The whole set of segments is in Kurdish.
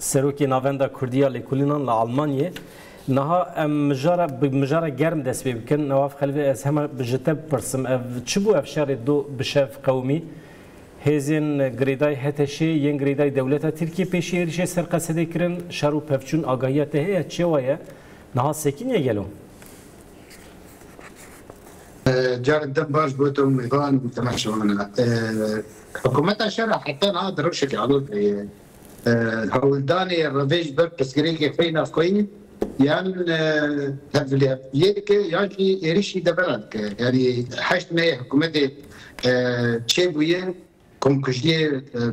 Serokê Navenda Kurdî ya Lêkolînan li Elmanyê, Niha em mijara bi mijara germ dest pê bikin. Newav Xelvê ez hema ji te bipirsim ev çi bû ev şerê du bi şev qewimî? Hêzên girêdayî HTŞ'ê yên girêdayî dewleta Tirkiyê pêşî êrîşê ser Qesedê kirin. Şer û pevçûn agahiya te heye çêwa ye? Niha sekiniye gelo? Carek din baş bo te û mêvan û temaşewana. Hikumeta şer a heta niha di rewşeke alozê ye. Hewldanê revê ji ber pirsgirêkê xwe yê navxweyî yan hevlihevdiyê dike yan jî êrişî deveran dike. Yanî heşt meyê hikûmetê çêbûye, komkujiyê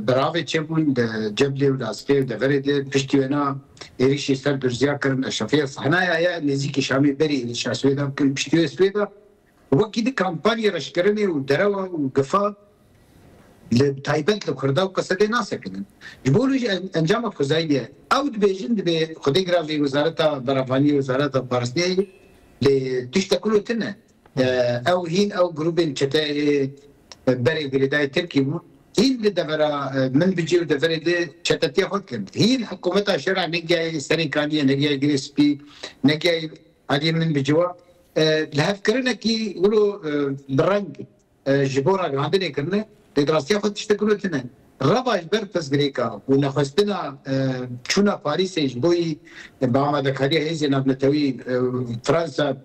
beravê çêbûn di Ceblê û Lasikê û deverê de. Piştî wena êrişî ser Durziya kirin. Eşrefiya Sehnaya ye nêzîkî Şamê berî êrişa Swêda bikin. Piştî wê Swêda Wekî di kampanyê reşkirinê û derewa û gifa li taybet li Kurda û Kesedê nasekinin. Ji bo wî jî encama xwezayî ye. Ew dibêjin dibê xwedê gira vê wezareta beravanî, wezareta parastinê lê tiştek wilo tune ye. Ew hîn ew grûbên çete ê berê girêdayî Tirkî bûn. Hîn li devera min bicî û deverê di çetetiya xwe dikin. Hîn hikumeta şera negiyayê serê kaniyê, negiyayê girê spî, negiyayê aliyê min biciwa. Lihevkirinekî wilo bi reng ji bo ragihandinê kirine, pêdirastiya xwe tiştek wilo tune. Reva ji ber pirsgirêka û nexwestina çûna Parîsê ji bo yî bi amadekariya hêzên navnetewî Fransa,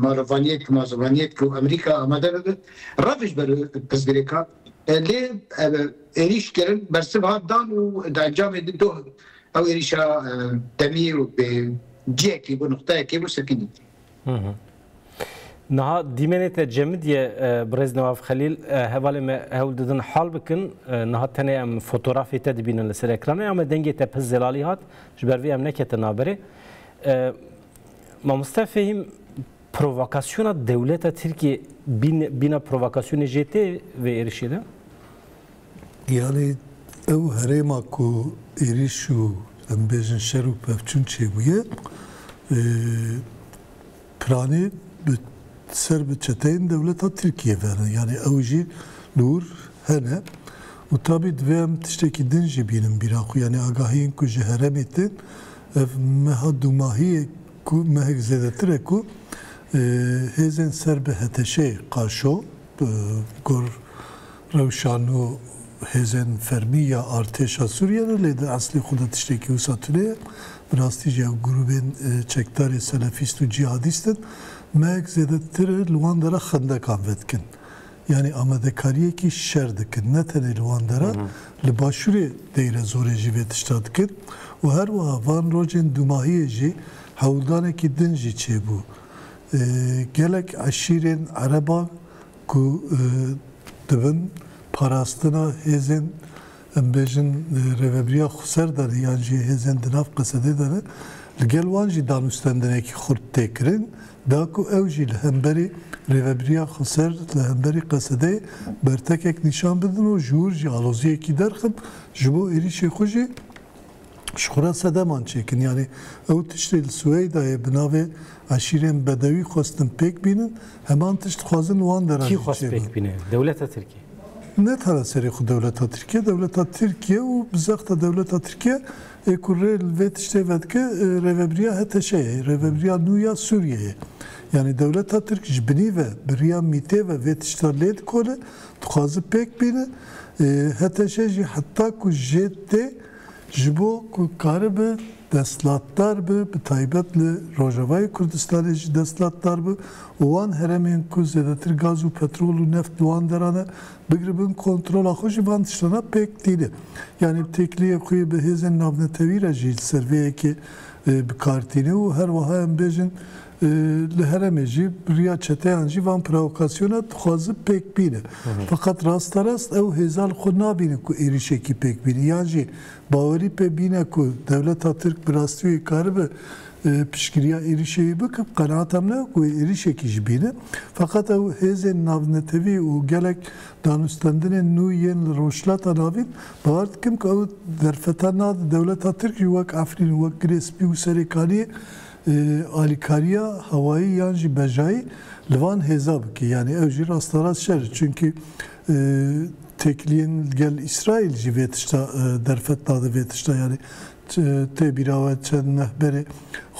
Marovaniyetk, Mazovaniyetk û Amerîka amade bibe, rev ji ber pirsgirêka. Lê êrîşkirin bersiv hat dan û di encamê de doh Ew êrîşa demî û bi cihekî bû, nuqtayekê bû sirkînî. Niha dîmenê te cemidîye birêz Newaf Xelîl, hevalê me hewl didin hal bikin. Niha tenê em fotografê te dibînin li ser ekranê ya me, dengê te pir zelalî hat, ji ber vê em neketin naberê. Mamoste Fehîm, provokasyona dewleta Tirkiyê bîne provokasyonê jê tê vê êrîşê de? Yanî ew herêma ku êrîş û em bêjin şer û pevçûn çêbûye piranî bi ser bi çeteyên dewleta Tirkiyê ve ne. Yanî ew jî li wir hene û tabî divê em tiştekî din jî bînin bîra xwe. Yanî agahiyên ku ji herêmê tên ev meha dûmahiyê ku mehek zêdetir e ku hêzên ser bi HTŞ'ê, Qaşo, Gor, Rewşa nû hêzên fermî ya artêşa Sûriyê ne lê di eslê xwe de tiştekî wisa tune ye. Bi rastî jî ew grûbên çekdarê selefîst û cîhadîst in. Meyek zêdetir li wan dera xendekan vedikin. Yanî amadekariyekî şer dikin. Ne tenê li wan dera, li başûrê Deyrezorê jî vê tişta dikin û her wiha van rojên dûmahiyê jî hewldanekî din jî çêbû. Gelek eşîrên ereban ku di bin parastina hêzên em bêjin Rêveberiya Xweser de ne yan jî hêzên di nav Qesedê de ne, li gel wan jî danûstendinekî xurt tê kirin, da ku ew jî li hemberî Rêveberiya Xweser, li hemberî Qesedeyê bertekek nîşan bidin û ji wir jî aloziyekî derxin, ji bo êrîşê xwe jî. ji xwe re sedeman çêkin. Yanî ew tiştê li Suweydayê bi navê eşîrên bedewî xwestin pêk bînin, heman tişt dixwazin wan de re Kî jî xwest çêbe. pêk bîne? Dewleta Tirkiyê? Ne tane serê xwe dewleta Tirkiyê, dewleta Tirkiye û bi zexta dewleta Tirkiye ê ku rê li vê tiştê vedike Rêvebiriya HTŞ yê, Rêvebiriya nû ya Sûriyeyê. Yanî dewleta Tirk ji binî ve bi riya mîtê ve vê tişta lê dikole, dixwaze pêk bîne. HTŞ jî heta ku jê tê, Ji bo ku karibe destlatdar be, bi taybet li Rojavayê Kurdistanê jî destlatdar be û wan heremên ku zêdetir gaz û petrol û neft li wan deran e, bigiribin kontrola xwe jî van tiştana pêk tîne. Yanî bi têkiliyek xwe yê bi hêzên navnetewî re jî li ser vê yekê bi kar tîne û her wiha em bêjin Li herêmê jî bi riya çeteyan jî van provokasyonan dixwazin pêk bînin. Feqet rasterast ew hêza li xwe nabînin ku êrîşekî pêk bînin yan jî bawerî pê bîne ku dewleta Tirk bi rastî wê karibe piştgiriya êrîşê wî bikin. Qenaata min e ku wê êrîşekî jî bîne. Feqet ew hêzên navnetewî û gelek danûstendinên nû yên li Rojhilata Navîn bawer dikim ku ew derfeta nadin dewleta Tirk jî wek Efrîn û wek Girê Spî û Serêkaniyê Alîkariya hewayî yan jî bejayî li van hêza bike yanî ew jî rasterast şer e çunkî têkiliyên gel Îsraîl jî vê tişta derfet dade vê tişta yanî tê bîra we çend meh berê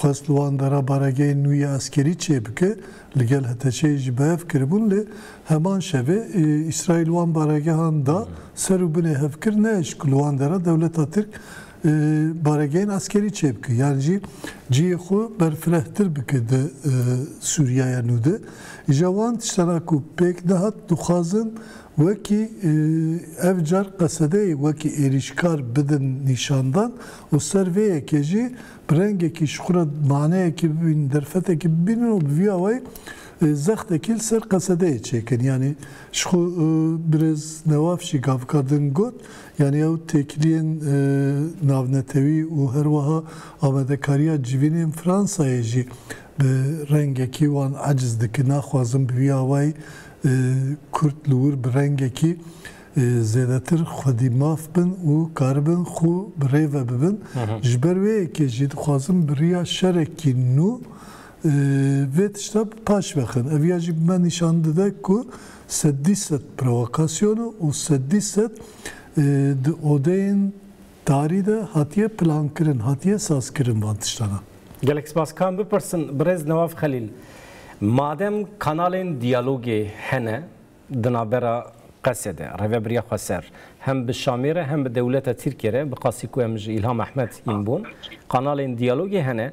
xwest li wan de re baregehên nû yê eskerî çê bike li gel HTŞ'ê jî bi hev kiribûn lê heman şevê Îsraîl wan baregehan da ser û binê hevkir ne eşq ku li wan de re dewleta Tirk baregehên eskerî çêbike yan jî cihê xwe berfirehtir bike di Sûriyaya nû de. Îja wan tiştan a ku pêk dihat dixwazin wekî ev car qesedeyê wekî êrîşkar bidin nîşandan û ser vê yekê jî bi rengekî ji xwe re maneyekî bibînin, derfetekî bibînin û bi vî awayî zextekî li ser qesedeyê çêkin. Yanî ji xwe birêz Newaf jî gavika din got, Yanî ew têkiliyên navnetewî û her wiha amadekariya civînên Fransayê jî bi rengekî wan eciz dikin. Naxwazin bi vî awayî Kurd li wir bi rengekî zêdetir xwedî maf bin û karibin xwe bi rê ve bibin. Ji ber wê yekê jî dixwazin bi riya şerekî nû Vê tişta bi paş ve xin. Ev ya jî bi me nîşan dide ku seddî sed provokasyon e û seddî sed di odeyên tarî de hatiye plankirin, hatiye sazkirin van tiştan e. Gelek spas. Ka em bipirsin birêz Newaf Xelîl, madem kanalên diyalogê hene di navbera Qesê de, Rêveberiya Xweser hem bi Şamê re hem bi dewleta Tirkiyê re, bi qasî ku em ji Îlham Ehmed yên bon, kanalên diyalogê hene,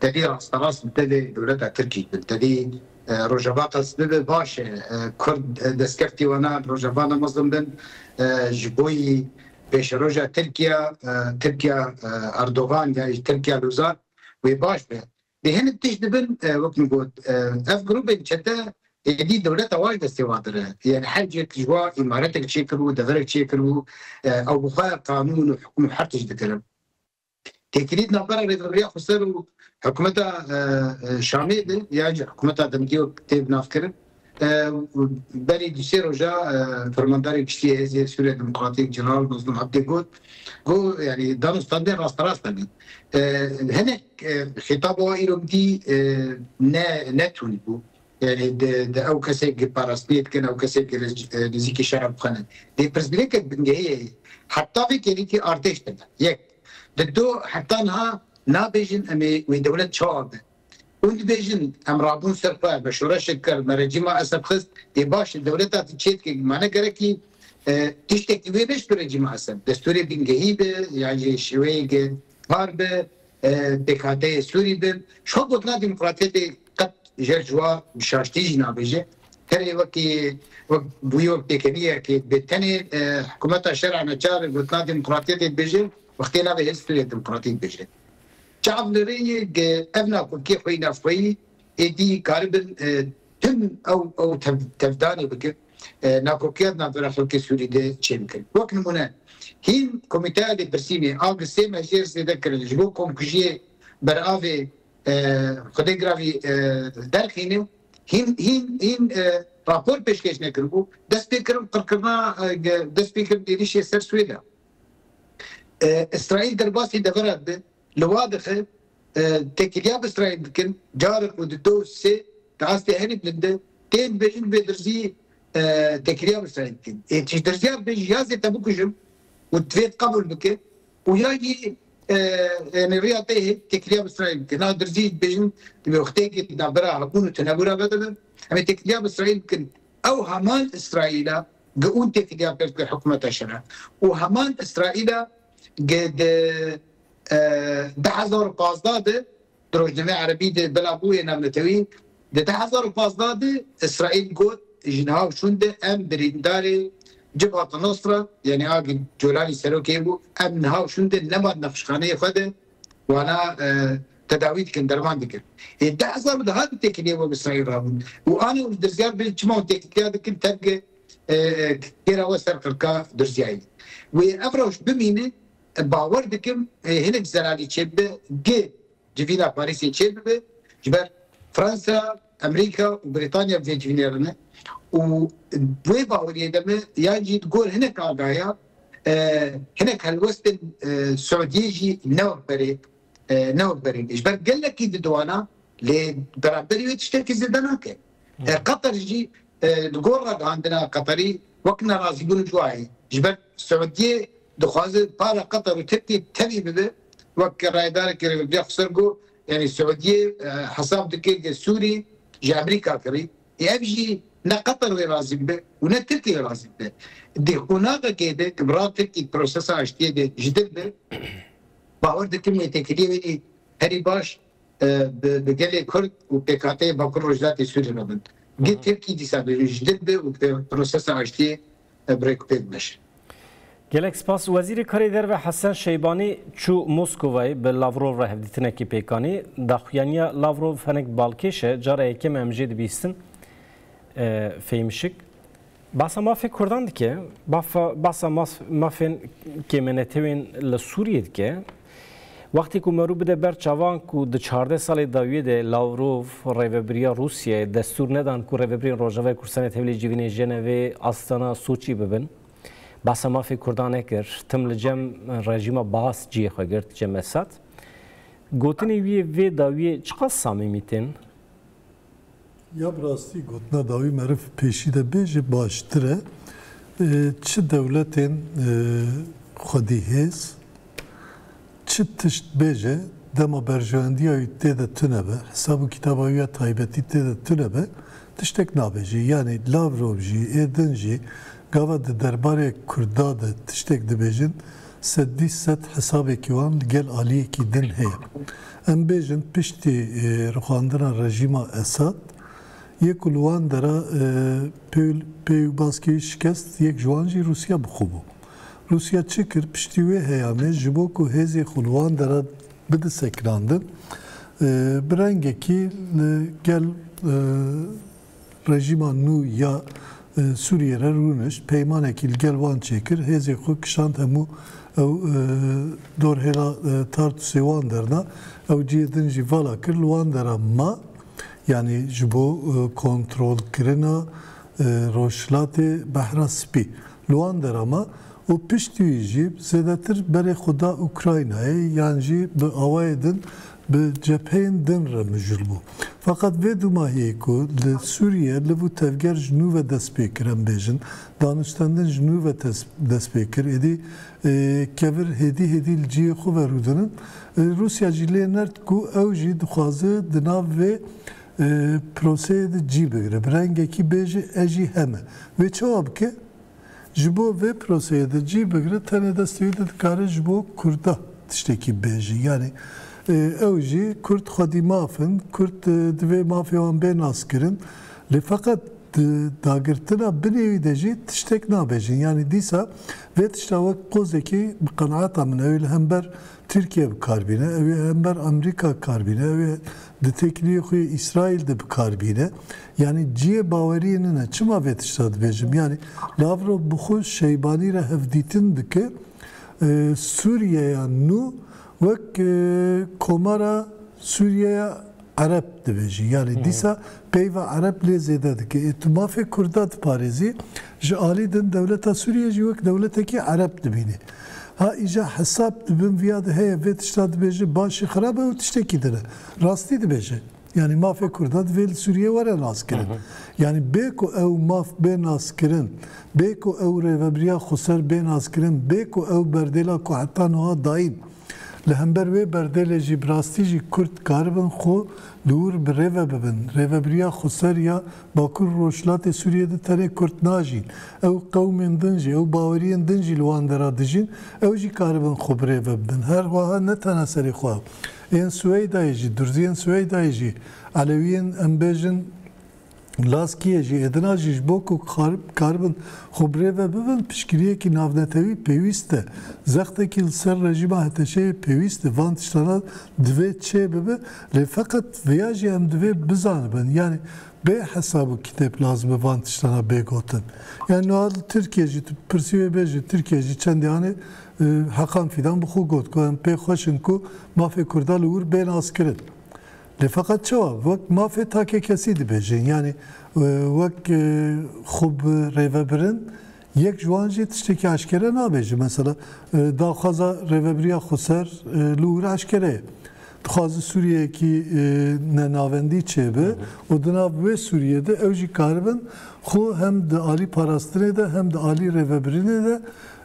Tevî rasterast bi tevî dewleta Tirkî bi tevî Rojava qas bibe baş e. Kurd destkeftî wana Rojava ne mezin bin. Ji boî pêşeroja Tirkiye, Tirkiya Erdogan ya jî Tirkiya Luzar wê baş be. Lê hinek tişt dibin wek min got ev grûbên çete êdî dewleta wan ji destê wan dire. Yanî her cihek ji wan îmaretek çêkiribû, deverek çêkiribû ew bi xwe qanûn û hukm û her tişt dikirin. Têkilît navbera Rêveberiya Xweser û Hikûmeta Şamê de ya ji Hikûmeta Demgê tê bi nav kirin. Berî du sê roja Fermandarê Giştî yê Hêzê Sûriya Demokratîk Jeneral Mazlûm Ebdê got ku yanî danûstandin rasterast hebî. Hinek xîtaba wan îro bidî ne ne tûn bû. Di ew kesê gi parastinê dikin, ew kesê gi nizîkî şera bixwînin. Dê pirsgirêkek bingehîyê yê, heta vê kêrîtî artêş tune? Yek, di do heta niha nabêjin em ê wê dewlet çawa be. Hûn dibêjin em rabûn ser xwe, me şoreşek kir, me rejîma Esed xist. Yê baş e, dewleta tu çêdikê gi mane gerekî tiştekî wê neşt bi rejîma Esed. Destûrê bingehî be yan jî şêweyê gi par be, Pêkhateyê Sûrî bi şo gotina demokratiyetê qet jer ji wa bi şaştî jî nabêje. Herê wekî wek bûyo pêkeniyekê dibê tenê hikumeta şer'a neçar gotina demokratiyetê dibêje wextê navê hêz Sûriya Demokratîk bêje. Çav li rê ye ke ev nakokiya xwe yî navxweyî êdî karibin tim ew ew tevdanê bikin. nakokiya di navbera xelkê Sûrî de çê bikin. Wek nimûne, hîn Komîteya Lêpirsînê a bi sê mejêr zêde kirin ji bo komkujiyê beravê xwedê giravî derxîne û hîn hîn hîn rapor pêşkêş nekiribû, dest pê kirin qirkirina dest pê kirin êrîşê ser Swêda. Îsraîl derbasî deveran de Li wan dixin têkiliya misrayên dikin carek ku di do sê di astê herî bilind de tên dibêjin vê dirzî têkiliya misrayên dikin ê çi ji dirziya dibêjin ya zê te bikujim û divê tu qebûl bike û ya jî yanî riya te yê têkiliya misrayên bike niha dirzî jî dibêjin di wextêkê di navbera hebûn û tenebûra ve de be em ê têkiliya misrayên bikin ew heman israîl e giûn têkiliya pêş dike hikûmeta şer e û heman israîl e Gê di du hezar û pazdeh de di rojnameyê erebî de bila bûye navnetewî, di du hezar û pazdeh de Îsraîl got ji niha û şûnde em birîndarê Cibhata Nosra yanî a ku Colanî serokê yê bû em niha û şûnde nema di nexşxaneyê xwe de wana tedawî dikin derman dikin. Ê du hezar û deh de têkiliyê we bi Îsraîl rabûn û anê û ji dirzyar bin çima hûn têkiliya dikin tevge Têra we ser qirka Durziyayê. Wê ev rewş bimîne, bawer dikim hinek zelalî çêbibe, gi civîna Parîsê çêbibe, ji ber Fransa, Emerîka û Brîtanya bi vê civînê re ne û di wê baweriyê de me yan jî di gor hinek agahiya hinek helwestên Siûdiyê jî ne wek berê ne wek berê ne ji ber gelekî didoana lê beraberî wê tiştekî zêde nake. Qatar jî Di gor ragihandina Qeterî wek nerazîbûn cûayê ji ber Siûdiyê dixwaze para Qeter û Tirkiyê tevî bibe wek rayedarekî rêveberiya Xweser got, Yanî Siûdiyê hesab dike ke Sûrî ji Emerîka kirî ê ev jî ne Qeter lê razî bibe û ne Tirkî lê razî bibe. Di qûnaxekê de ku bi ra Tirkî prosesa aştiyê de ji dir be, bawer dikim wê têkiliyê wênî herî baş bi gelê Kurd û pêkhateyê Bakur Rojhilatê Sûriyê re bin. Gê Tirkî dîsa ji dir be û bi prosesa aştiyê bi rêkûpêk bimeşe. Gelek spas. Wezîrê Karê Derve Hesen Şeybanî çû Moskovayê bi Lavrov re hevdîtinekê pêk anî. Daxuyaniya Lavrov hinek balkêş e, cara yekem e em jê dibîstin fêmişik. Basa mafê kurdan dike, basa mafên kêmenetewên li Sûriyê dike. Wextê ku me rû bide ber çavan ku di çardeh salê dawiyê de Lavrov, rêvebiriya Rûsyayê destûr nedan ku rêvebirên Rojavayê Kurdistanê tevlî civînê Jenevê, Astana, Soçî bibin. Basa mafê kurdan nekir. Tim li cem rejîma Baas ciyê xwe girt, cem Esad. Gotinê wî yê vê dawiyê çiqas samîmî tên? Ya bi rastî gotina dawî meriv pêşî de bê jî baştir e. Çi dewletên xwedîhêz çi tişt bêje dema berjewendiya wî tê de tune be, hesab û kitaba wî ya taybetî tê de tune be tiştek nabêje. Yanî Lavrov jî ê din jî gava di derbarê Kurda de tiştek dibêjin Seddî sed hesabekî wan li gel aliyekî din heye. Em bêjin piştî rixwandina rejîma Esad yê ku li wan dera pêwbaskî şikest yek ji wan jî Rûsya bi xwe bû. Rûsya çi kir piştî wê heyanê ji bo ku hêzê xwe li wan dera bide sekinandin bi rengekî li gel Rejîma nû ya Sûriyê re rûnişt, peymanekî li gel wan çêkir, hêzên xwe kişand hemû ew dorhêla Tartusê wan derna, ew cihê din jî vala kir li wan dera ma, yanî ji bo kontrolkirina Rojhilatê Behra Spî li wan dera ma û piştî wî jî zêdetir berê xwe da Ukraynayê yan jî bi awayê din bi cepheyên din re mijûl bû. Feqet vê dûmahiyê ku li Sûriye liv û tevger ji nû ve dest pê kir em bêjin, danûstendin ji nû ve dest pê kir, êdî kevir hêdî hêdî li cihê xwe ve rûdinin. Rûsya jî lê nerd ku ew jî dixwaze di nav vê proseyê de cî bigire, bi rengekî bêje ez jî heme. Wê çawa bike? Ji bo vê proseyê de cih bigre tenê destê wî de dikare ji bo Kurda tiştekî bêje. Yanî ew jî Kurd xwedî maf in, Kurd divê mafê wan bê naskirin. Lê feqet di dagirtina binê wî de jî tiştek nabêjin. Yanî dîsa vê tişta wek qozekî bi qenaeta min ew ê li hember Tirkiye bi kar bîne ew ê hember Amerîka kar bîne ew ê di têkiliyê xwe yê Îsraîl de bi kar bîne. Yanî ciyê baweriyê nin e. Çima vê tişta dibêjim? Yanî Lavrov bi xwe Şeybanî re hevdîtin dike Sûriyeya nû wek komara Sûriyeya Ereb dibêjin. Yanî dîsa peyva ereb lê zêde dike. Ê tu mafê kurda diparêzî, ji alî din dewleta Sûriyê jî wek dewletekî ereb dibînî. Ha îja hesab di bin viya de heye vê tişta dibêje başî xirab e û tiştekî din e. Rastî dibêje. Yanî mafê kurda divê li Sûriyê were naskirin. Yanî bê ku ew maf bê naskirin, bê ku ew rêvebiriya xweser bê naskirin, bê ku ew berdêla ku heta nuha dayîn, Li hember wê berdêlê jî bi rastî jî Kurd dikaribin xwe dûr bi rêve bibin. Rêvebiriya xweser ya Bakur û Rojhilatê Sûriyê de tenê Kurd najîn. Ew qewmên din jî, ew baweriyên din jî li wan dera dijîn. Ew jî karibin xwe bi rêve bibin. Her wiha ne tena serê xwe ew. Ên Suweydayê jî, Durziyên Suweydayê jî, Elewiyên em bêjin Laskiyê jî êdina jî ji bo ku karibin xwe bi rê ve bibin piştgiriyekî navnetewî pêwîst e. Zextekî li ser rejîma HTŞ'ê pêwîst e. Van tiştana divê çê bibe lê feqet vêya jî em divê bizanibin yanî bê hesab û kitêb lazim e van tiştana bê gotin. Yanî niha li Tirkiyê jî tu bipirsî wê bêje Tirkiye jî çendê anê Heqan Fîdan bi xwe got ku em pê xweş in ku mafê kurda li wir bên askirin. Lê feqet çawa wek mafê takekesî dibêjin yanî wek xwe bi rêvebirin yek ji wan jî tiştekî eşkere nabêjin. Mesela daxwaza Rêvebiriya Xweser li ûr eşkere ye. Dixwaze Sûriyeyekî ne navendî çêbe û di nav wê Sûriyê de ew jî karibin xwe hem di alî parastinê de hem di alî rêvebirinê de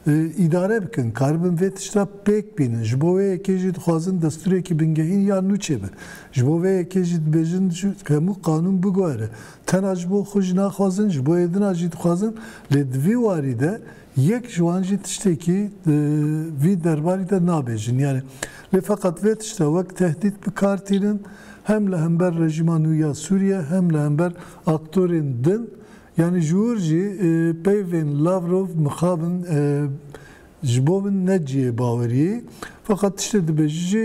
Îdare bikin, karibin vê tişta pêk bînin. Ji bo wê yekê jî dixwazin destûrekî bingehîn ya nû çêbe. Ji bo vê yekê jî dibêjin hemû qanûn biguhere. Tena ji bo xwe jî naxwazin, ji bo êdina jî dixwazin. Lê di vî warî de yek ji wan jî tiştekî di vî derbarî de nabêjin. Yanî lê feqet vê tişta wek tehdît bi kar tînin hem li hember rejîma nû ya Sûriye hem li hember aktorên din. Yanî ji wir jî peyvên Lavrov mixabin ji bo min ne cihê baweriyê. Feqet tiştê dibêjî jî,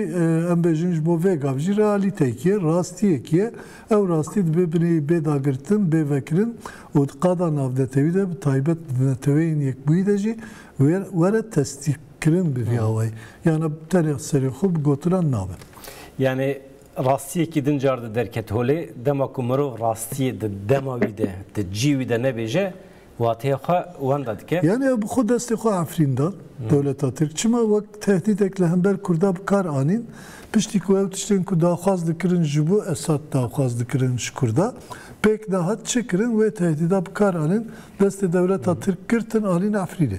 em bêjin ji bo vê gav jî realîteyekî ye, rastiyekî ye. Ew rastî dibê binê bê dagirtin, bê vekirin û di qada navnetewî de, bi taybet di neteweyên yekbûyî de jî were testîkirin bi vî awayî. Yanî tenê serê xwe bi gotinan nabe. Yanî. Rastiyekî din car di derket holê, dema ku mirov rastiyê di dema wî de, di cî wî de nebêje, wateyê xwe wenda dike. Yanî ew bi xwe destê xwe efrîn da dewleta Tirk. Çima wek tehdîdek li hember Kurda bi kar anîn, piştî ku ew tiştên ku daxwaz dikirin ji bo Esad daxwaz dikirin ji Kurda, pêk da hat çi kirin, wê tehdîda bi kar anîn, destê dewleta Tirk girtin anîn efrînê.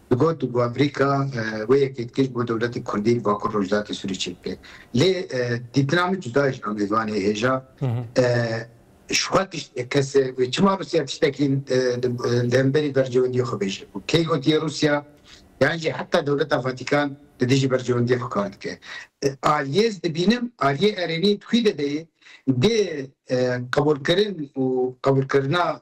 Digot ku Amerîka wê yekê dikir bo dewletê kurdî li bakur rojhilatê Sûriyê çêk bike. Lê dîtina min cuda ye ji amêvanê hêja. Ji xwe tişt e kese wê çima Rûsya tiştekî li hemberî berjewendiyê xwe bêje ku kê gotiye Rûsya yan jî heta dewleta Vatîkan li dijî berjewendiyê xwe kar dike. Aliyê ez dibînim, aliyê erênî di xwî de de yê dê qebûlkirin û qebûlkirina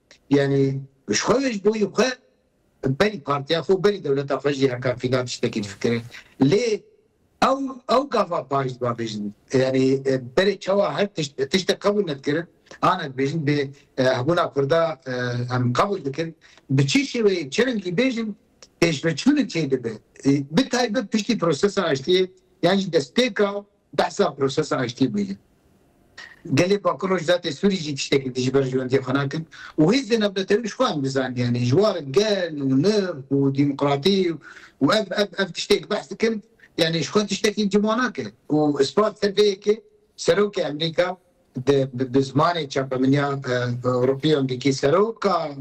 Yanî ji xwe ve ji bo yê xwe berî partiya xwe û berî dewleta xwe jî heta fînan tiştekî difikire. Lê ew ew gava parî ji wan bêjin. Yanî berê çawa her tişt tiştek qebûl nedikirin, ana dibêjin bê hebûna Kurda em qebûl dikin, bi çi şêweyê çi rengî bêjin pêşveçûnê çêdibe. Bi taybet piştî prosesa aştiyê yan jî destpêka Behsa prosesa aştiyê bûye. Gelê Bakur Rojda tê Sûrî jî tiştekî dijî berjewendiyê xwe nakin û hêzên navnetewî ji xwe em dizaniyane ji war gel û nirx û demokratî û ev ev ev tiştêk behs dikin yanî ji xwe tiştekî cima nake û ispat ser vê yekê Serokê Emrîka di bi zimanê çapemeniya Ewropiyan dikî Seroka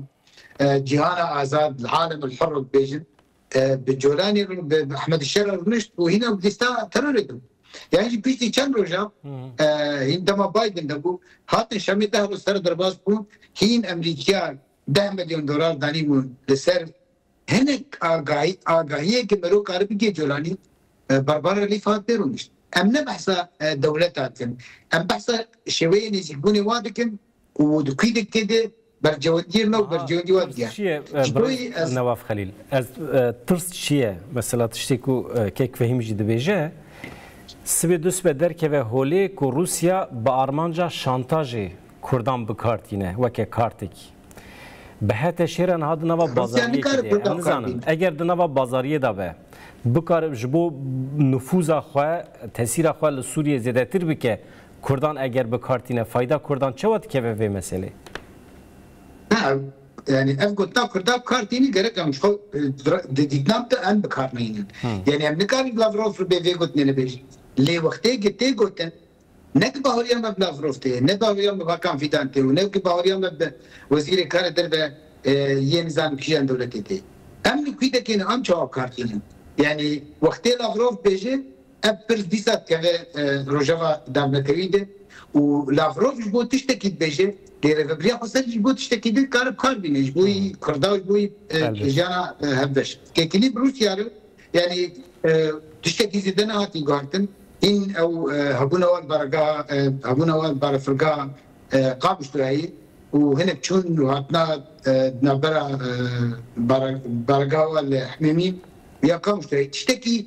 cîhana azad Alemul Hurr dibêjin Bi Colanê re bi Ehmedî Şer re rûnişt û hîna bi lîsta terorê de bû. Yan jî piştî çend rojan hîn dema Biden de bû hatin Şamê deh roj ser derbas bûn hîn Emerîkiyan deh milyon dolar danîbûn li ser hinek agahî agahiyê ke mirov kari bigê Colanî Barbara Leaf hat tê rûnişt. Em ne behsa dewleta dikin. Em behsa şêweyê nêzîkbûnê wan dikin û di kûyî de kê de Bercewendiyê me û bercewendî wan diya. Ji bo yî ez. Newaf Xelîl, ez tirs çi ye? Mesela tiştê ku kek Fehîm jî dibêje, sibê dusibe derkeve holê ku Rûsya bi armanca şantajê Kurdan bi kar tîne weke kartekî. Bi hete şêre niha di nava bazariyekê de ye. Em nizanin eger di nava bazariyê de be bikare ji bo nifûza xwe, tesîra xwe li Sûriyê zêdetir bike Kurdan eger bi kar tîne fayda kurdan çawa dikeve vê meselê? Na yanî ev gotina kurda bi kar tîne gerek em ji xwe di dîtnan de em bi kar nayînin. Yanî em nikarin Lavrov bê vê gotinê li bêjin. Lê wextê ku tê gotin ne ku baweriya me bi Lavrov tê ye, ne baweriya me bi Hakan Fîdan tê û ne ku baweriya me bi Wezîrê Karê Derve yê nizanim kîjan dewletê tê. Em li kwîtekê ne em çawa bi kar tînin. Yanî wextê Lavrov bêje Ev pirs dîsa dikeve rojeva dawnatewi de û Lavrov ji bo tiştekî dibêje lê rêvebiriya Xweser ji bo tiştekî din kar bi kar bîne ji bo wî Kurda û ji bo wî jiyana hevbeş. Têkilî bi Rûsya re yanî tiştekî zêde nehatiye guhertin, hîn ew hebûna wan baregeha hebûna wan barefirgeha Qabûs re heye û hinek çûn û hatina di navbera baregeha wan li Hemêmî ya Qabûs re heye. Tiştekî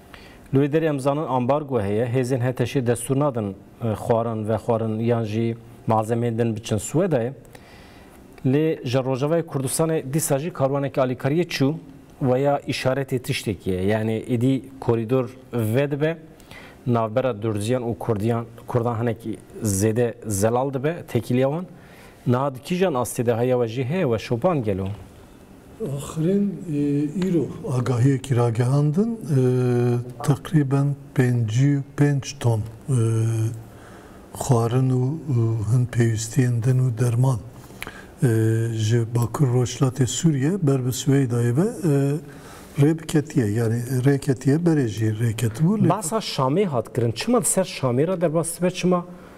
Li wê derê em zanin ambargo heye, hêzên HTŞ'ê destûr nadin xwarin vexwarin yan jî malzemeyên din biçin Swedayê. Lê ji Rojavayê Kurdistanê dîsa jî karwaneke alîkariyê çû we ya îşaretê tiştekî ye. Yanî êdî korîdor vedibe, navbera Durziyan û Kurdiyan Kurdan hinek zêde zelal dibe tekîliya wan. Niha di kîjan astê de heye we jî heye we şopan gelo? Axirîn îro agahiyekî ragihandin teqrîben pêncî û pênc ton xwarin û hin pêwîstiyên din û derman ji Bakur Rojhilatê Sûriyê ber bi Siweydayê ve rê biketiye yanî rê ketiye berê jî rê ketibû lê Basa Şamê hat kirin. Çima li ser Şamê re derbas dibe? Çima?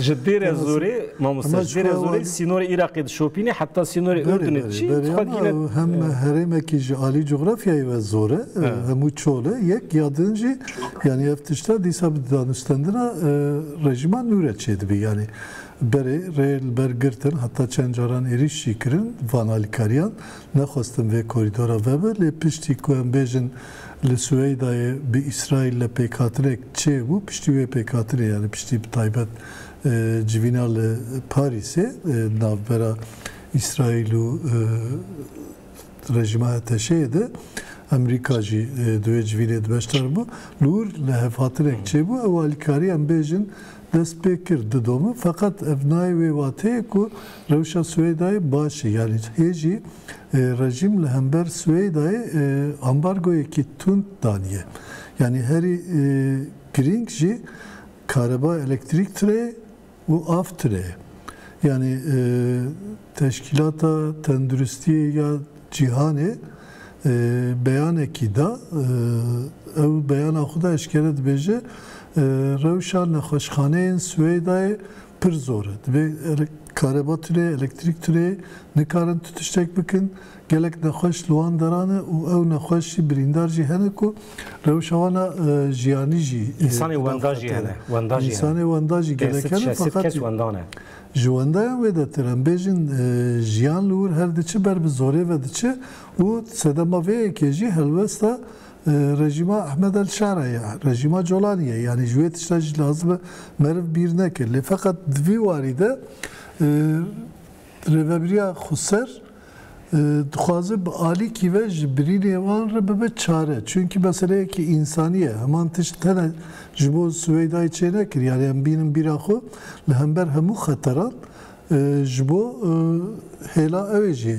Ji Dêre Zorê, mamoste, ji Dêre Zorê sînorê Iraqê dişopîne heta sînorê Urdunê diçî, tu xwe dikî ne. Hem herêmekî ji alî cografyayê ve zor e, hemû çol e, yek ya din jî yanî ev tişta dîsa bi danûstendina rejîma nû re çêdibî. Yanî berê rê li ber girtin heta çend caran êrîş jî kirin van alîkariyan, nexwestin vê korîdora vebe lê piştî ku em bêjin, Li Sueydayê bi Îsraîlle pêkhatinek çêbû, piştî wê pêkhatinê yanî piştî bi taybet civîna li Parîsê di navbera Îsraîl û rejîma Eteşeyê de Emerîka jî di wê civînê de beşdar bû. Li wir lihevhatinek çêbû ew alîkarî em bêjin dest pê kir di domin feqet ev nayê wê wateyê ku rewşa Sueydayê baş e yanî hê jî Rejîm li hember Swêdayê ambargoyekî tund daniye. Yanî herî girîng jî kareba elektrîk tire ye û av tire ye. Yanî Teşkîlata Tenduristiyê ya Cîhanê beyanekî da, ew beyana xwe de eşkere dibêje, Rewşa nexweşxaneyên Swêdayê Pir zor e. Divê kareba tune, elektrîk tune, nikarin tu tiştek bikin. Gelek nexweş li wan deran e û ew nexweş jî birîndar jî hene ku rewşa wan a jiyanî jî Însanên wenda jî hene. Wenda jî hene. Însanên wenda jî gelek Pênc hene. sed şeş sed kes wenda ne. Ji wendayan wê de tir em bêjin jiyan li wir her diçi ber bi zorê ve diçi û sedema vê yekê jî helwesta Rejîma Ehmed El Şara ye, rejîma Colanî ye. Yanî ji wê tişta jî lazim e meriv bîr neke. Lê feqet di vî warî de Rêveberiya Xweser dixwaze bi alîkî ve ji birînê wan re bibe çare. Çimkî meseleyekî însanî ye. Heman tişt tene ji bo Siweydayê çênekir. Yanî em bînin bîra xwe li hember hemû xeteran Ji bo hêla ewê jî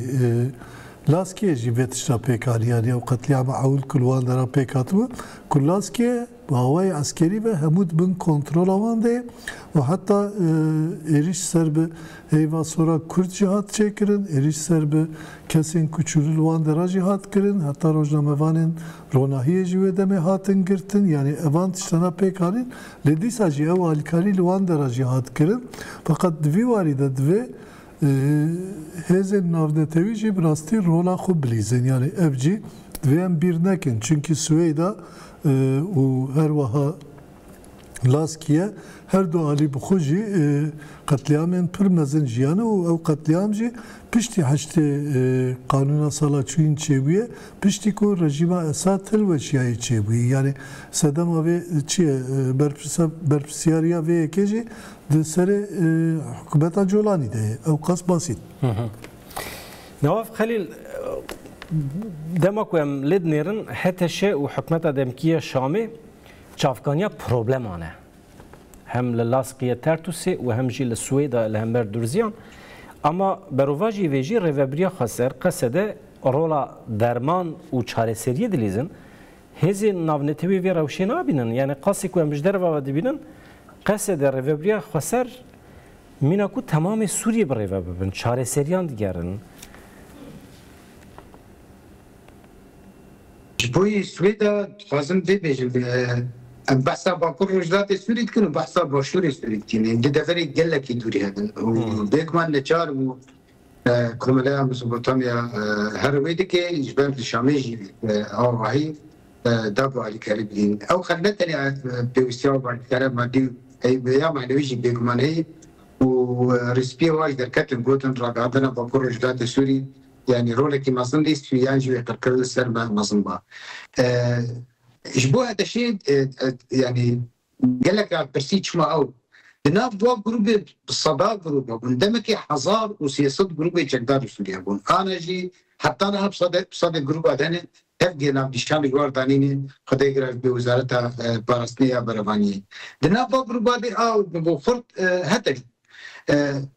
Laskiyê jî vê tişta pêk haliyan ya û qetlîama ewil ku li wan deran pêk hatibû ku Laskiye bi awayê eskerî ve hemû di bin kontrola wan de ye û heta êrîş ser bi heyva sora Kurd jî hat çêkirin, êrîş ser bi kesên ku çûlî li wan dera jî hat kirin, heta rojnamevanên Ronahiyê jî wê demê hatin girtin, yanî evan tiştana pêk anîn, lê dîsa jî ew alîkarî li wan dera jî hat kirin. Feqet di vî warî de divê hêzên navnetewî jî bi rastî rola xwe bilîzin, yanî ev jî divê em bîr nekin, çimkî Swêda û her weha Laskiye her du alî bi xwe jî qetlîamên pir mezin jiyane û ew qetlîam jî piştî heştê qanûna sala çûyîn çêbûye, piştî ku rejîma Esad hilweşiyayî çêbûye. Yanî sedema vê çi ye? Berpirsa berpirsyariya vê yekê jî di serê hikûmeta Colanî de ye. Ew qas basî ne. Nawaf Xelîl, dema ku em lê dinêrin HTŞ û hikûmeta demkî ya Şamê Çavkaniya probleman e. Hem li Laskiye Tertusê û hem jî li Swêda li hember Durziyan. Ama berovajî vê jî Rêveberiya Xweser, Qesede rola derman û çareseriyê dilîzin. Hêzên navnetewî vê rewşê nabînin. Yanî qasî ku em ji derve ve dibînin, Qesede, Rêveberiya Xweser mîna ku temamê Sûriyê birêve bibin, çareseriyan digerin. Ji bo yê Swêda dixwazim vê bêjim, em behsa Bakur Rojhilatê Sûrî dikin û behsa Başûrê Sûrî dikîn. Em di deverê gelekî dûrî hebin û bêguman neçar bû komeleya Mezopotamya her wê dike ji ber li Şamê jî awahî dav û alîkarî bidîn. Ew xel ne tenê pêwîstiya û alîkariya madî û ya manewî jî bêguman heye û rîspiyê wan ji derketin gotin ragihandina Bakur Rojhilatê Sûrî, Yanî rolekî mezin lîst bî yan jî wê qirkirin li ser me mezin ba. Ji bo HDŞ'ê yanî gelek car pirsî çima ew di nav dua grûbê bi seda grûb hebûn, demekê hezar û sê sed grûbê çekdar li Sûriyeyê hebûn. Ana jî heta niha bi sedek bi sedek grûb a dene tevgê navnîşan li war danîne xwe dê girewt bi wizareta parastinê ya berevaniyê. Di nav va grûba dê a û bi bo xurt heteş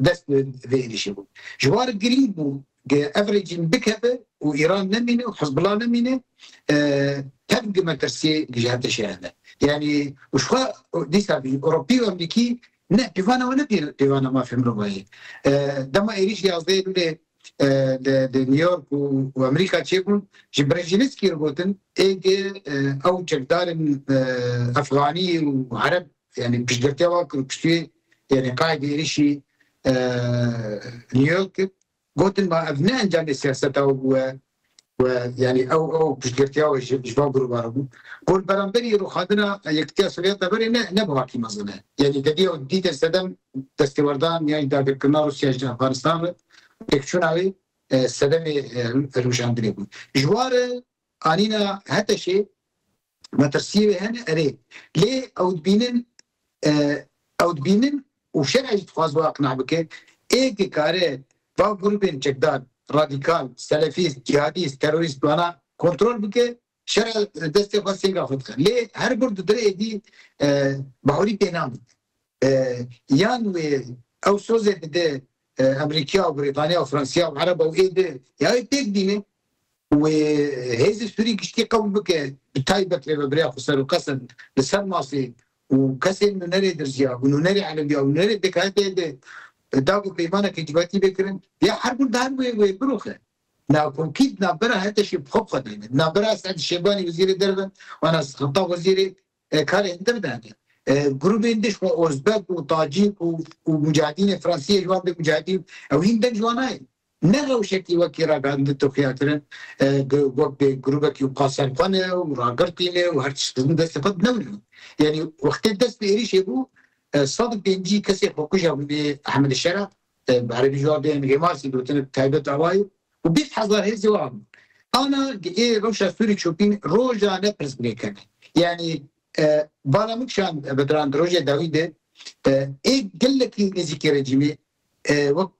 dest bi vê êrîşê bûn. Ji war girîng bû ke ev rejîm bikeve û Îran nemîne û Hizbullah nemîne tev ke metirsiyê ji hertişê hene. Yanî û jixwe dîsa jî Ewropî û Amerîkî ne pîvana wan ne pîvana mafê mirovan ye. Dema êrîşî yazdeh Eylûlê li New York û Amerîka çêbûn ji Brejinskî re gotin ê ke ew çekdarên Efxanî û Ereb yanî piştgirtiya wan kir û piştî wê Yanî qayîdê êrîşî New York kir, gotin ma ev ne encamê siyaseta we bûye û yanî ew ew piştgirtiya we ji ji van grûba re bû. Got li beramberî rûxandina Yekitiya Sovyeta berê ne ne bi hakî mezin e. Yanî te dîya dîtin sedem destêwerdan yan jî dagirkirina Rûsya ji Efganistan re û têkçûna wê sedemê hilweşandinê bû. Ji wan re anîna Heteşê Metirsiyê wê hene erê. Lê ew dibînin ew dibînin û şerê jî dixwaz wê aqna bike, ê dikare va grûbên çekdar, radîkal, selefîst, cîhadîst, terorîst wana kontrol bike, şer a li destê xwe sêga xwe dixe. Lê her gund di dir êdî bahûrî pê nabin. Yan wê ew sozê bide Amerîkya û Brîtanya û Fransiya û Ereba û êdî ya wê pêk bîne û hêzê Sûrî giştî qebûl bike bi taybet rêvebirêya xwe ser û qesd li ser masê û kesên nûnerê dirziya û nûnerê elewiya û nûnerê pêkhateyê de da ku peymaneke civakî bê kirin ya her gund her wê wê biroxe. Navkomkî di navbera Heteşê bi xwe bi xwe de ne. Di navbera Esed Şêbanî wezîrê derve û Enes Xettab wezîrê Karên din ne. Grûbên din ji bo Ozbek û Tacîk û û mûcahedînê Fransî yê ji wan bê mûcahedîn. Ew hîn din ji wan nayên. Ne rewşekî wekî ragihandin Tirkîya kirin wek bê grûbekî û ka ser xwe ne û ragirtîne û her tişt kirin destê xwe ne wina. Yanî wextê dest bi êrîşê bû Sadik Dêncî kesê xwekuja hûnê Ehmedê Şera Bi erebî jî dê em hêmasî gotin bi taybet awa ye û bîst hezar hêzê wan bûn. Ana di ê rewşa sûrî çopîn roja ne pirs binêkene. Yanî bala min kişand Bedran di rojê dawî de ê gelekî nêzîkî rejîmê wek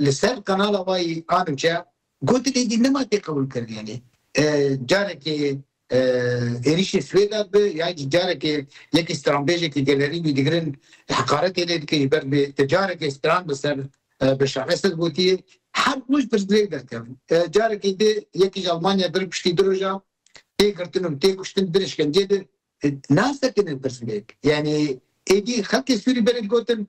li ser qenala wayî a newçeya gotin êdî nema têqebûlkirin yanî carekê Êrîşê Swêda bi ya jî carekê yekî stranbêjekî gelerî wî digirin heqaretê lê dike ji ber vê te carekê stran bi ser Beşar Esed gotiye her roj pirsgirêk derkevin. Carekê dê yekî ji Elmanya dir piştî du roja tê girtin û tê kuştin dir îşkenceyê dir nasekine pirsgirêk. Yanî êdî xelkê Sûrî berê digotin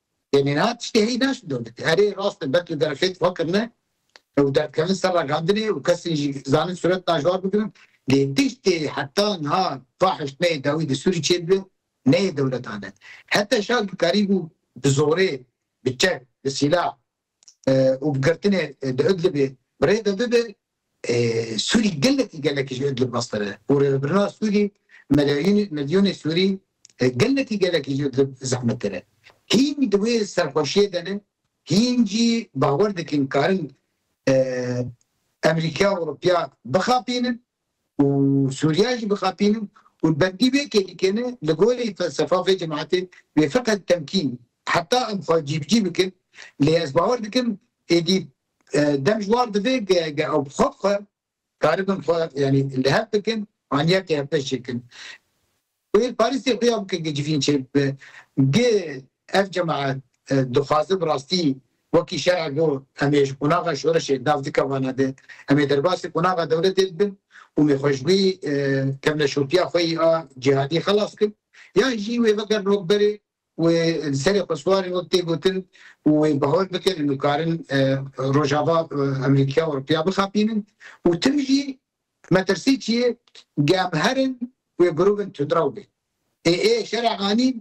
Yanî niha tiştê heyî naşt bi dewletê. Erê rast e belkî derfê tiva kirine û derdkevin ser ragandinê û kesên jî zanîn sûret naşwar bigirin lê tiştê heta niha va hiştmeyê dawî di Sûrî çêdibe neyê dewletane. Heta şal dikarîbû bi zorê, bi çek, bi sîlah û bi girtinê di Idlibê bi rê ve bibe, Sûrî gelekî gelekî ji Idlib meztire û rêvebirina Sûrî milyonê Sûrî gelekî gelekî ji Idlib zehmettir e. Hîn di wê serxweşiyê de ne, hîn jî bawer dikin karin Amerîkaya Ewropiya bixapînin. û Sûriya jî bixapînin û bendî wê kê dikene li gorî felsefa vê cemaetê wê feqet temkîn heta em xwe cîbicî bikin lê ez bawer dikim êdî dem ji war divê ge ew bi xwe bi xwe karibin xwe yanî li hev bikin aniya keyepê çêkin. Wêl Parîsê xuya bike ke civîn çêbibe. Gê ev cemaet dixwaze bi rastî wekî şerek bo em ê ji qonaxa şoreşê nav dike vana de. Em ê derbasî qonaxa dewletê bibin û mê xwe ji wî kevneşopîya xweyî a cîhadî xelas bikin. Yan jî wê vegerin wek berê Wê li serê xwe swarên wek tê gotin û wê bi hol bikin em dikarin Rojava, Amerîka û Ewropiya bixapînin û tim jî metirsî çi ye ge em herin wê girovên tundrew bên. Ê ê şerê anîn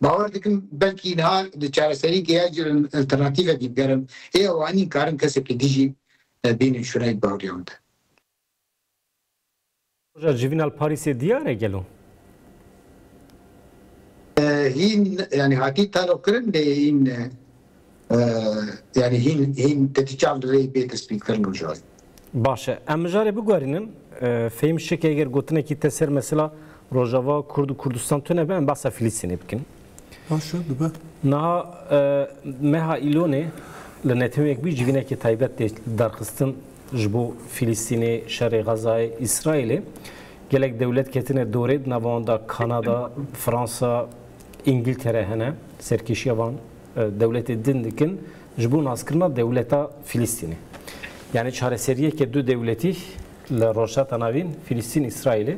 bawer dikim belkî niha di çareseriyekê ya jî alternatîve bîn ger em ê ew anîn karin kesekî dijî bînin şûneyê bi baweriya wan de. Roja civîn al Parîsê diyar e gelo? Hîn yanî hatî talo kirin lê hîn yanî hîn hîn te tî çav li rêyî bê destpî kirin mijarê. Baş e. Em mijarê biguherînin. Fehîm şikê eger gotinekî te ser mesela Rojava Kurd û Kurdistan tune be em behsa Filistînê bikin. Niha meha Îlonê li neteweyek bî civînekê taybet tê derxistin ji bo Fîlîstînê, şerê Xezayê, Îsraîlê. Gelek dewlet ketine dorê di nava wan de Kanada, Fransa, Îngiltere hene. Serkêşiya van dewletê din dikin ji bo naskirina dewleta Fîlîstînê. Yanî çareseriyeke du dewletî li Rojhilata Navîn, Fîlîstîn, Îsraîlê.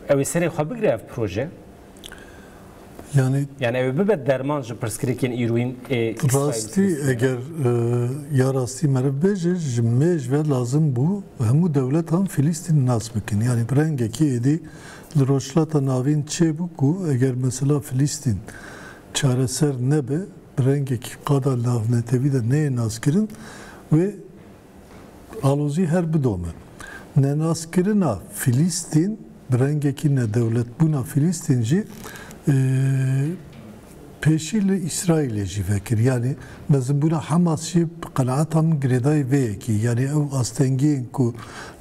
Ew ê serê xwe bigire ev proje? Yani yani ew ê bibe derman ji pirsgirêkên îroyîn ê Rastî eger ya rastî meriv bêje ji mêj ve lazim bû hemû dewletan Filîstîn nas bikin. Yani bi rengekî êdî li Rojhilata Navîn çêbû ku eger mesela Filîstîn çareser nebe bi rengekî qada navnetewî de neyê naskirin wê Alozî her bidome, nenaskirina Fîlîstîn bi rengekî nedewletbûna Fîlîstîn jî pêşî li Îsraîlê jî vekir. Yanî mezinbûna Hamas jî bi qenaeta min girêdayî vê yekê. Yanî ew astengiyên ku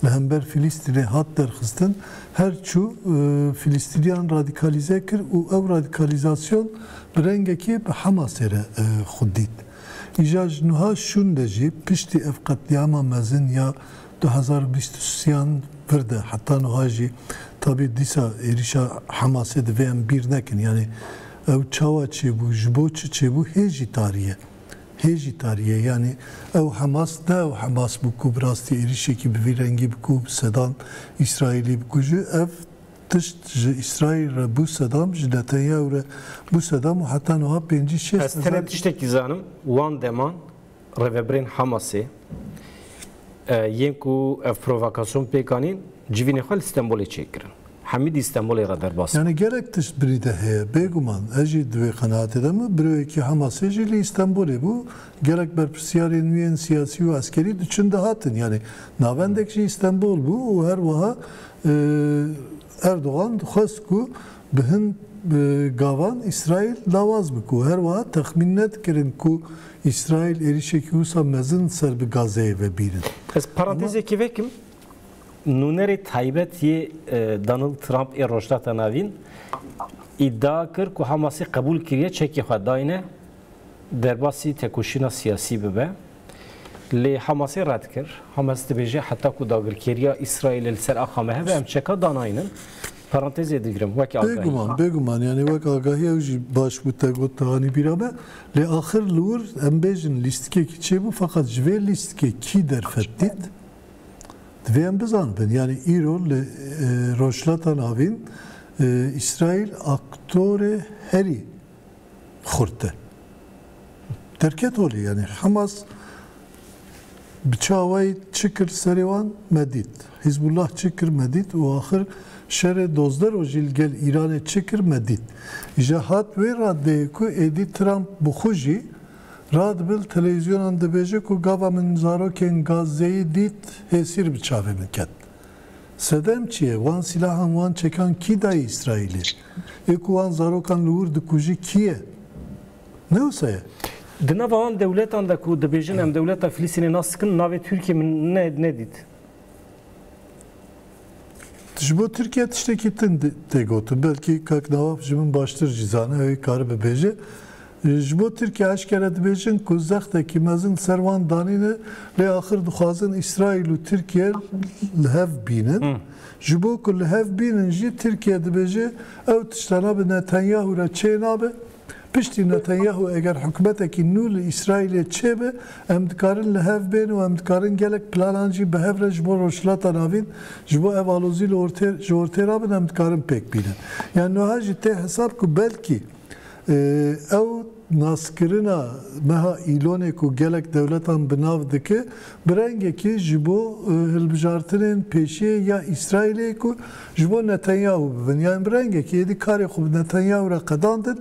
li hember Fîlîstînê hat derxistin her çû Fîlîstîniyan radîkalîze kir û ew radîkalîzasyon bi rengekî bi Hamasê re xwe dît. Îja ji nuha şûnde jî piştî ev qetlîama mezin ya du hezar û bîst û siyan vir de heta nuha jî tabî dîsa êrîşa Hemasê divê em bîr nekin yanî ew çawa çêbû ji bo çi çêbû hê jî tarî ye hê jî tarî ye yanî ew Hemas ne ew Hemas bû ku bi rastî êrîşekî bi vî rengî bi ku Sedan Îsraîlî bikuje ev Tişt ji Îsraîl re bû sedam, ji Netanyahu re bû sedam û heta niha pêncî şêst hezar. Ez tenê tiştekî zanim, wan deman rêveberên Hamasê yên ku ev provokasyon pêk anîn civînê xwe li Stenbolê çê kirin. Hemîdî Stenbolê re derbas bû. Yanî gelek tişt birî de heye. Bêguman ez jî di vê qenaatê de me. Biroyekî Hamasê jî li Îstenbolê bû. Gelek berpirsyarên nû yên siyasî û eskerî diçin dihatin. Yanî navendek jî Îstenbol bû û her wiha Erdogan dixwest ku bi hin gavan Îsraîl lawaz bike û her wiha texmîn nedikirin ku Îsraîl êrîşekî wisa mezin ser bi Gazeyê vebînin. Ez parantezekê vekim. Nûnerê taybet yê Donald Trump ê Rojhilata Navîn îdia kir ku Hamasê qebûl kiriye çekê xwe dayne. Derbasî tekoşîna siyasî bibe. Lê Hamasê red kir. Hamas dibêje heta ku dagirkeriya Îsraîlê li ser axa me hebe em çeka danayînin. Parantezê digirim wekî agahî. Bêguman, bêguman yanî wek agahî ew jî baş bû te got hanî bîra me. Lê axir li wir em bêjin lîstikekî çêbû feqet ji vê lîstikê kî derfet dît divê em bizanibin. Yanî îro li Rojhilata Navîn Îsraîl aktorê herî xurt e. Derket holê yanî Hemas bi çawayî çi kir serê wan me dît. Hîzbullah çi kir me dît û axir şerê dozdeh rojî li gel Îranê çi kir me dît. Îja hat wê raddeyê ku êdî Trump bi xwe jî radibe li televîzyonan dibêje ku gava min zarokên Gazzeyê dît hêsîr bi çavê min ket. Sedem çi ye? Wan sîlahan, wan çekan kî daye Îsraîlê? Ê ku wan zarokan li wir dikujî kî ye? Ne wisa ye? Di nava wan dewletan de ku dibêjin em dewleta Filistînê nas dikin navê Tirkiyê min nedît. Ji bo Tirkiye tiştekî din tê gotin. Belkî kak Nawaf ji min baştir jî zane ew ê karibe bêje. Ji bo Tirkiye eşkere dibêjin ku zextekî mezin li ser wan danîne lê axir dixwazin Îsraîl û Tirkiye li hev bînin. Ji bo ku li hev bînin jî Tirkiye dibêje ew tiştana bi Netanyahu re çê nabe. Piştî Netanyahu eger hikûmetekî nû li Îsraîlê çêbe em dikarin li hev bên û em dikarin gelek planan jî bi hev re ji bo Rojhilata Navîn ji bo ev alozî li ortê ji ortê rabin em dikarin pêk bînin. Yani niha jî tê hesab ku belkî Ew naskirina meha Îlonê ku gelek dewletan bi nav dike, bi rengekî ji bo hilbijartinên pêşiyê ya Îsraîlê ku ji bo Netanyahu bibin. Yan bi rengekî êdî karê xwe bi Netanyahu re qedandin.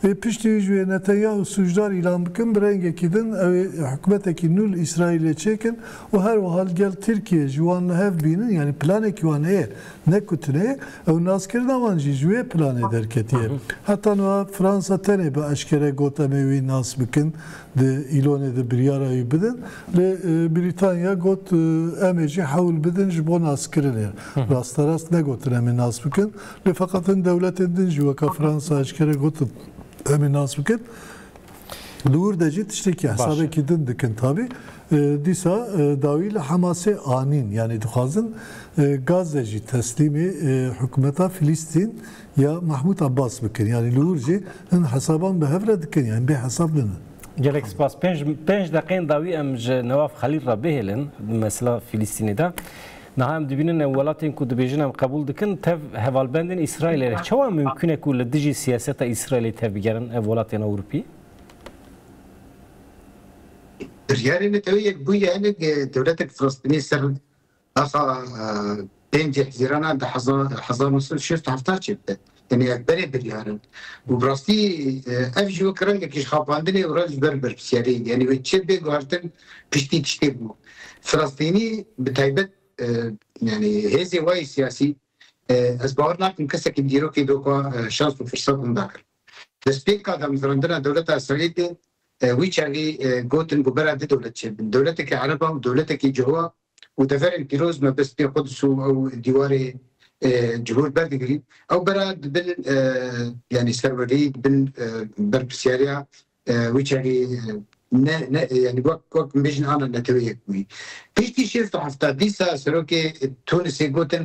Ê piştî wî ji wê Netanyahu sûcdar îlan bikin, bi rengekî din ew ê hikûmetekî nû li Îsraîlê çêkin û her wiha li gel Tirkiyê ji wan li hev bînin. Yanî planekî wan heye. Ne ku tune, ew naskirina wan jî ji wê planê derketiye. Heta niha Fransa tenê bi eşkere got em ê wî nas bikin, di îlonê de biryara wî bidin, lê Brîtanya got em ê jî hewl bidin ji bo naskirinê. Rasterast negotin em ê nas bikin, lê feqet hin dewletên din jî weka Fransa eşkere gotin em ê nas bikin. Li wir de jî tiştekî hesabekî din dikin tabî. Dîsa dawî li Hemasê anîn yanî dixwazin Gaze jî teslîmê hikûmeta Filîstîn ya Mehmûd Abbas bikin. Yanî li wir jî hin hesaban bi hev re dikin yanî bê hesab ninin. Gelek spas. Pênc pênc deqeyên dawî em ji Newaf Xelîl re bihêlin mesela Filîstînê de. Niha em dibînin ew welatên ku dibêjin em qebûl dikin tev hevalbendên Îsraîlê ne. Çawa mimkûn e ku li dijî siyaseta Îsraîlê tev bigerin ev welatên Ewropî? Biryarê neteweyê yek bûye hinek dewletek Filistînî ser axa pêncî hezîrana di hezar nû sed û şêst û heft çêbide. Tenê ev berê biryar in. Û bi rastî ev jî wek rengekî ji xapandinê û re ji ber berpisyariyê yanî wê çi bê guhertin piştî tiştê bû. Filistînî bi taybet yanî hêzê we yê siyasî ez bawer nakim kesekî bi dîrokê doka şans û firsat winda kir. Destpêka damezrandina dewleta Îsraîlê wî çavî gotin ku bera du dewlet çêbin. Dewletekî ereba û dewletekî cihûa û deverên pîroz me bi spê Quds û ew dîwarê ji hûr berdigirîn, ew bera di bin yanî serwerdeyî di bin berpirsyariya wî çavî ne ne yanî wek wek min bêjin ana neteweyek bûyî. Piştî şêst û hefta dîsa serokê Tûnisê gotin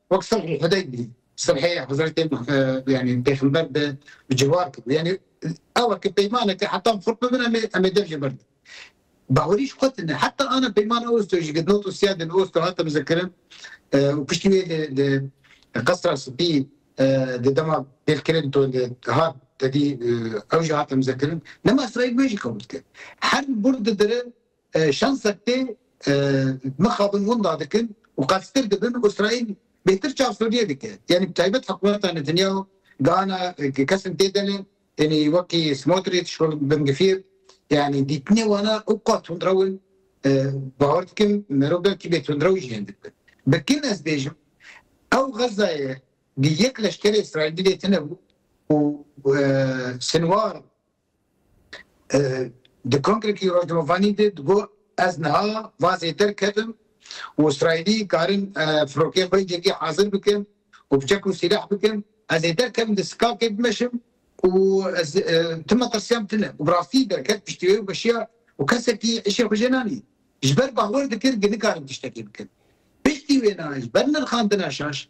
Wek sulh û Hudeybî, sulhê Hezretê yanî pêxember bi ciwar kir. Yanî ew e ki peyman e ki heta em xurt bibin em ê dev jê birdin. Bahurî ji xwe tune heta ana peymana Osto jî girt. Not û siyadên Osto hate mizekirin û piştî wê lê li Qesra Spî di dema pêlkirin to li hat tedî ew jî hate mizekirin. Dema Îsraîl wê jî qebûl kir. Her bûr didirin. Şansek tê mixabin winda dikin û qelstir dibin û Îsraîl bêtir çav Sûriyê dike. Yanî bi taybet hikûmeta Netanyahu gihana kesên tê de ne, yanî wekî Smotrîç, wekî Ben Gvîr yanî dîtinê wan e û ka tundrew in. Bawer dikim merov belkî bêtundrew jî hêndî dibin. Bi kin ez bêjim ew Xezzayê di yek leşkerê Îsraîlî dê tune bû û Sinwar, Di kongrekî rojnamevanî de digot, Ez niha van zêder kevim û Îsraîlî karin firokeyên xwe yekê hazir bikin û bi çek û sîleh bikin. Ez ê derkevim di skakê bimeşim û ez tim metirsiyam tune. Û bi rastî derket piştî wê û meşiya û kesekî îşê xwe jê nanî. Ji ber bawer dikir ke nikarin tiştekî bikin. Piştî wêna ji ber nirxandina şaş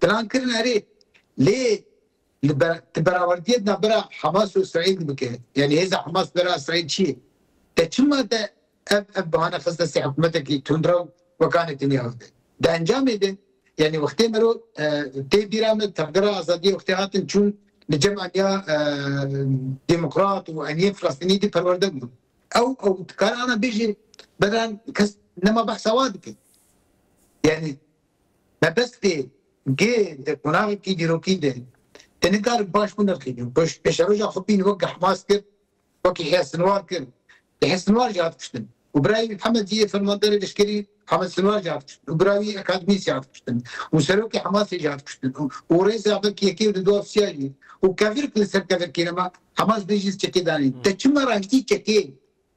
Plan kirin erê, lê li ber tu berawendiyê di navbera Hamas û Îsraîl de bike, yanî hêza Hamas li bera Îsraîl çi ye? Te çima te ev ev bihane xist destê hikûmetekî tundrew weka Netanyahu de? Di encamê de, yanî wextê miro tê bîra me tevgera azadiyê wextê hatin çûn li cem aniya demokrat û aniyên filastînî de perwerde bûn. Ew ew dikare ana bêje, bedran kes nema behsa wa dike. Yanî Mebestê gê di qonaxekî dîrokî de te nikare baş binirxînî û pêşeroja Xwepîn wek Hmas kir, wekî Hêz Sinwar kir, di Hêz Sinwar jî hat kuştin û bira wî Mihemed jî yê fermanderê leşkerî Hemed Sinwar jî hat kuştin û bira wî Ekadmîs jî hat kuştin û serokê Hemasê jî hat kuştin û rêza vek yekê û di du ofîsya jî û kevirk li ser kevirkê nema Hemas bê jî çekê danîn. Te çima ragihî çekê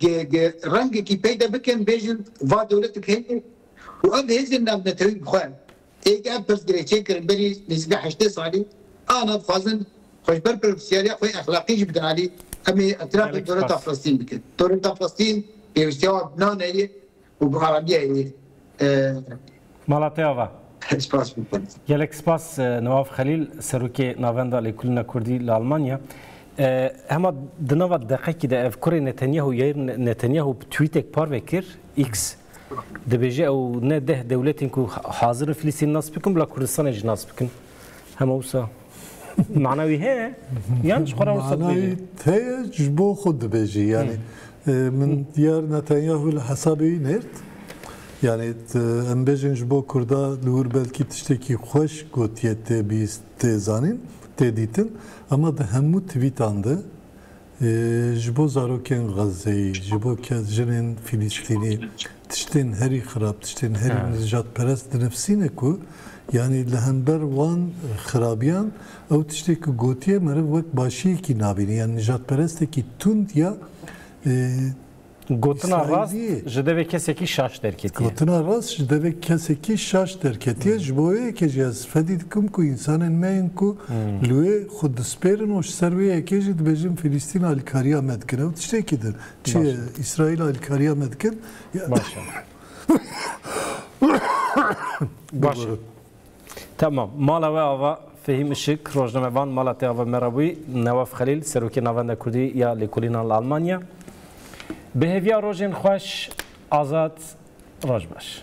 Gi rengekî peyde bikin bêjin va dewletik heye û ev hêzên navnetewî bi xwe ê gi ev pirsgirê çêkirin berî nêzîkî heştê salî ana dixwazin xwe ji ber pirofisyaliya xwe exlaqî jî bidin alî. Em ê îtirafê dewleta Filistîn bikin. Dewleta Filistîn pêwîstiya wan bi nane ye û bi aranîya wî e. Malatê Ava. Spas bikin. Gelek spas Newav Xelîl, Serokê Navenda Lêkolîna Kurdî li Almanya. Hema di nava deqekî de ev kurê Netanyahu Yair Netanyahu bi twîtek parve kir X dibêje ew ne deh dewletên ku hazir in Filîstîn nas bikin bila Kurdistanê jî nas bikin. Hema wisa mana wî heye yan ji xwe re wisa dibêjî? Heye ji bo xwe dibêjî yanî min diyar Netanyahu li hesabê wî nêrt. Yani em bêjin ji bo Kurda li wir belkî tiştekî xweş gotiye tê bîst tê zanîn tê dîtin ama di hemû twîtan de Ji bo zarokên Xezzeyê, ji bo jinên Fîlîstînê tiştên herî xirab, tiştên herî nijadperest dinifisîne ku yanî li hember wan xirabiyan ew tiştê ku gotiye meriv wek başiyekî nabîne yan nijadperestekî tund ya Gotina rast ji devê kesekî şaş derketiye. Gotina rast ji devê kesekî şaş derketiye. Ji bo wê yekê jî ez fedî dikim ku însanên me yên ku li wê xwe dispêrin û ji ser wê yekê jî dibêjin Filîstîn alîkariya me dikin. Ew tiştekî din. Çi ye? Îsraîl alîkariya me dikin. Baş e. Baş e. Tamam. Mala we ava Fehîm Işik, rojnamevan, mala te ava me re bûyî, Newaf Xelîl, Serokê Navenda Kurdî ya Lêkolînan li Almanya. Bi hêviya rojên xweş, azad, roj baş.